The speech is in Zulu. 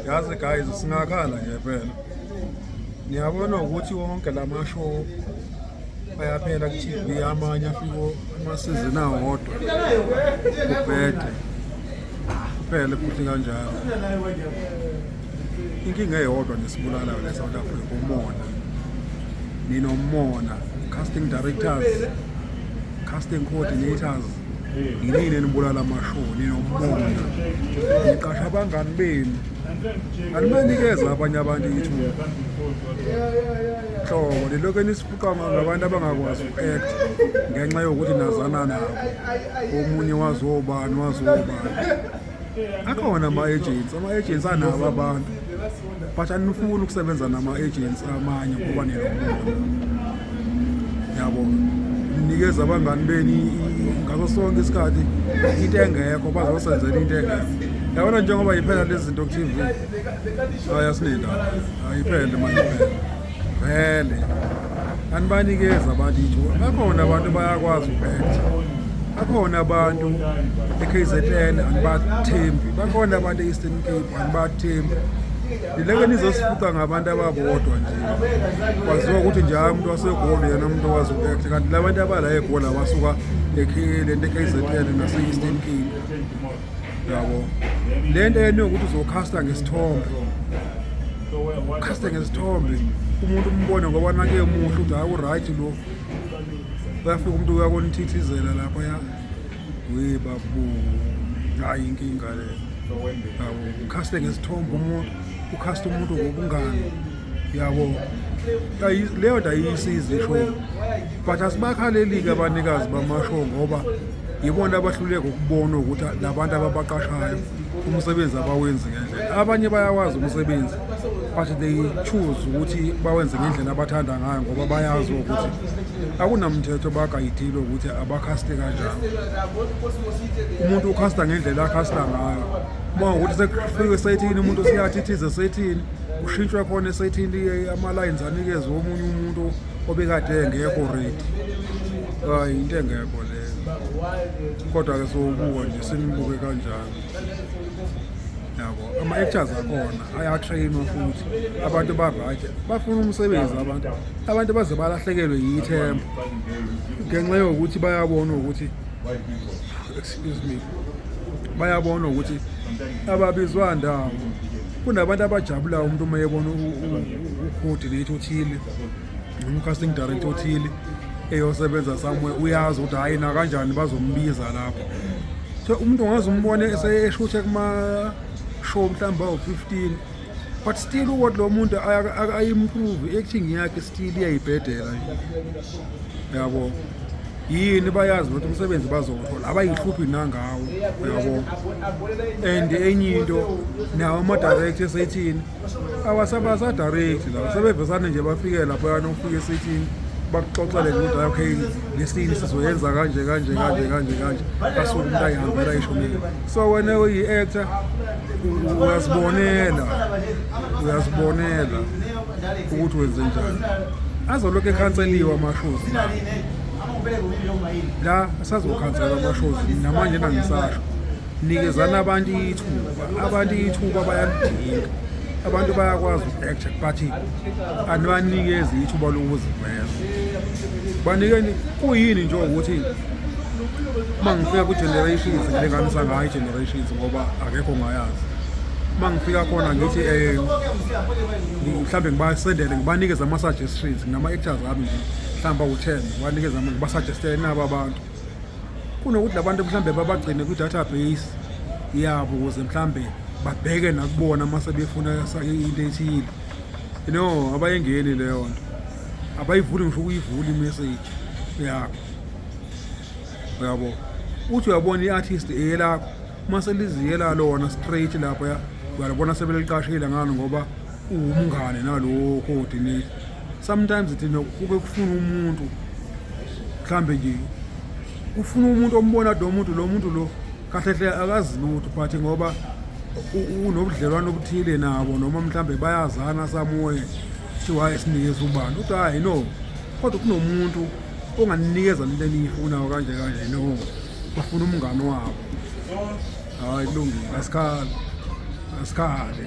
yazi guys singakhala nje phela niyabona ukuthi wonke la mashow ayaphela ku-tv amanye afiko amasizini awodwa kubhede kuphele futhi kanjalo inkinga eyodwa nesibulalayo le-south africa umona ninomona casting directors casting coordinators yinini enibulala amashoni nomona niqasha abangani benu animanikeza abanye abantu ithuba hlobo lilokhu nisifuqa ngabantu abangakwazi uku-act ngenxa yokuthi nazana nabo omunye wazobani wazobani akhona ama-agents ama-agents anabo abantu but anifuni ukusebenza nama-agents amanye ngoba nilobona yabo ninikeza abangani beni ngaso sonke isikhathi into engekho bazosenzela into engekho yabona njengoba yiphela lezi zinto ku-t v ayi asinendaba ayiphele manje vele anibanikeza abantu ithuba bakhona abantu bayakwazi uku-acta bakhona abantu e-kzn anibathembi bakhona abantu e-eastern cape anibathembi lileke nizosifuqa ngabantu ababodwa nje kwaziwa ukuthi nje hayi umuntu wasegolo yena umuntu owazi uku-acta kanti la bantu abala egolo abasuka le nto e-kzn nase-eastern cape yabo le nto yena yokuthi uzokhasta ngesithombe ukhasta ngesithombe umuntu umbone ngoba nake muhle ukuthi hayi uright lo uyafika umuntu uyakonithithizela lapha ya we babu hayi inkinga le yabo ukhasta ngesithombe umuntu ukhasta umuntu ngobungani yabo leyo nto ayiyisizi isho but asibakhaleli-ke abanikazi bamasho ngoba yibona abahluleka ukubona ukuthi labantu ababaqashayo umsebenzi abawenzi ngendlela abanye bayawazi umsebenzi but they choose ukuthi bawenze ngendlela abathanda ngayo ngoba bayazi ukuthi akunamthetho bagayidile ukuthi abakhaste kanjani umuntu ukhasta ngendlela akhasta ngayo uma ukuthi sekufike sethini umuntu siyathithize sethini kushintshwe khona esethini ama-lines anikezwe omunye umuntu obekade engekho redi hayi into engekho leyo kodwa-ke sowubuka nje senibuke kanjani yabo ama-actors akhona ayatrainwa futhi abantu baraja bafuna umsebenzi abantu abantu baze balahlekelwe yithemba ngenxa yokuthi bayabona ukuthi excuse me bayabona ukuthi ababizwa ndawo kunabantu abajabulayo umuntu uma yebona ucoordinator othile noma ucasting director othile eyosebenza somewhere uyazi ukuthi hhayi nakanjani bazombiza lapho so umuntu ungaze umbone eseshuthe kuma-show mhlawumbe awu-15 but still ukuthi lo muntu ayi-improve i-acting yakhe still iyayibhedela yabo yini bayazi ukuthi umsebenzi bazowuthola abayihluphi nangawo uyabo and enye into nawo ama-direct esayithini awasabasa-direct lawo sebevesane nje bafike lapho yana ukufika esayithini bakuxoxele nje ukuthi okay ngesini sizoyenza kanje kanje kanje kanje kanje asuke umuntu ayihambela ishonile so wena uyi-actor uyazibonela uyazibonela ukuthi wenze njani azolokhu ekhanseliwe amashozi la asazokhansela amashozi namanje nangisasho nikezani abantu ithuba abantu ithuba bayalidinga abantu bayakwazi uku-acta but anibanikezi ithuba lokuziveza banikeni kuyini nje ukuthi uma ngifika kwi-generations ngilinganisa ngayo i-generations ngoba akekho ngayazi uma ngifika khona ngithi um mhlawumbe ngibasendele ngibanikeze ama-suggestions nginama-actors ami nje mhlawumbe awu-ten ngibanikeze ngibasuggestele nabo abantu kunokuthi la bantu mhlawumbe babagcine kwi-database yabo ukuze mhlawumbe babheke nakubona uma sebefuna into ethile you know abayengeni leyo nto abayivuli ngisho ukuyivula imessage yakho uyabo uthi uyabona i-artist eyelakho uma seliziyela lona straight lapho ya uyalibona sebeliqashile ngalo ngoba uwumngane nalowo coordinator sometimes thina kuke kufuna umuntu mhlambe nje ufuna umuntu ombona do muntu lo muntu lo kahle hle akazi lutho but ngoba unobudlelwano obuthile nabo noma mhlambe bayazana samoye kuthiwa esinikeza ubani uthi hayi no kodwa kunomuntu onganikeza lento eniyifuna kanje kanje no bafuna umngani wabo hayi kulungile asikhali asikhali